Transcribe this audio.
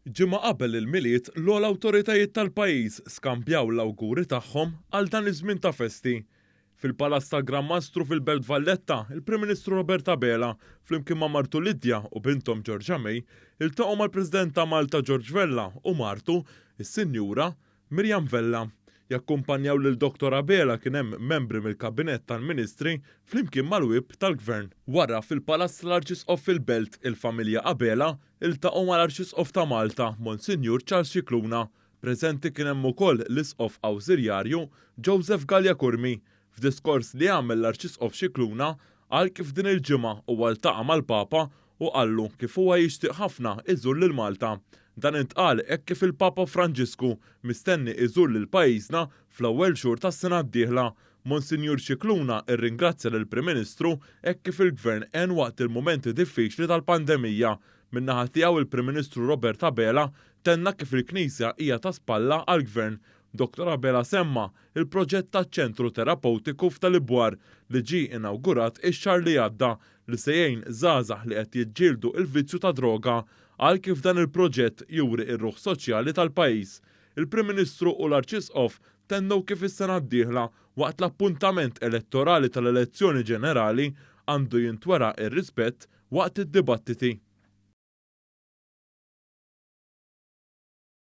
Ġimgħa qabel il-Milied, l-ogħla awtoritajiet tal-pajjiż skambjaw l-awguri tagħhom għal dan iż-żmien ta' festi. Fil-Palazz tal-Gran Mastru fil-Belt Valletta, il-Prim Ministru Robert Abela, flimkien ma' martu Lydia u binthom Georgia May, iltaqgħu mal-President ta' Malta George Vella u martu, is-Sinjura Miriam Vella. Jakkumpanjaw lil Dottor Abela kien hemm membri mill-Kabinett tal-Ministri flimkien mal-Whip tal-Gvern. Wara, fil-Palazz tal-Arċisqof fil-Belt, il-familja Abela ltaqgħu mal-Arċisqof ta' Malta, Monsinjur Charles Scicluna. Preżenti kien hemm ukoll l-Isqof Awżiljarju Joseph Galea Curmi, F'diskors li għamel l-Arċisqof Scicluna qal kif din il-ġimgħa huwa ltaqa' mal-Papa u qallu kif huwa jixtieq ħafna iżur lil Malta. Dan intqal hekk kif il-Papa Franġisku mistenni iżur lil pajjiżna fl-ewwel xhur tas-sena d-dieħla. Monsinjur Scicluna rringrazzja lill-Prim Ministru hekk kif il-Gvern għen waqt il-mumenti diffiċli tal-pandemija. Min-naħa tiegħu il-Prim Ministru Robert Abela tenna kif il-Knisja hija ta' spalla għall-Gvern Dottor Abela semma' l-proġett taċ-Ċentru Terapewtiku f'Tal-Ibwar li ġie inawgurat ix-xahar li għadda li se jgħin żgħażagħ li qed jiġġieldu l-vizzju tad-droga. Qal kif dan il-proġett juri r-ruħ soċjali tal-pajjiż. Il-Prim Ministru u l-Arċisqof tennew kif is-sena d-dieħla waqt l-appuntament elettorali tal-elezzjoni ġenerali għandu jintwera r-rispett waqt id-dibattiti.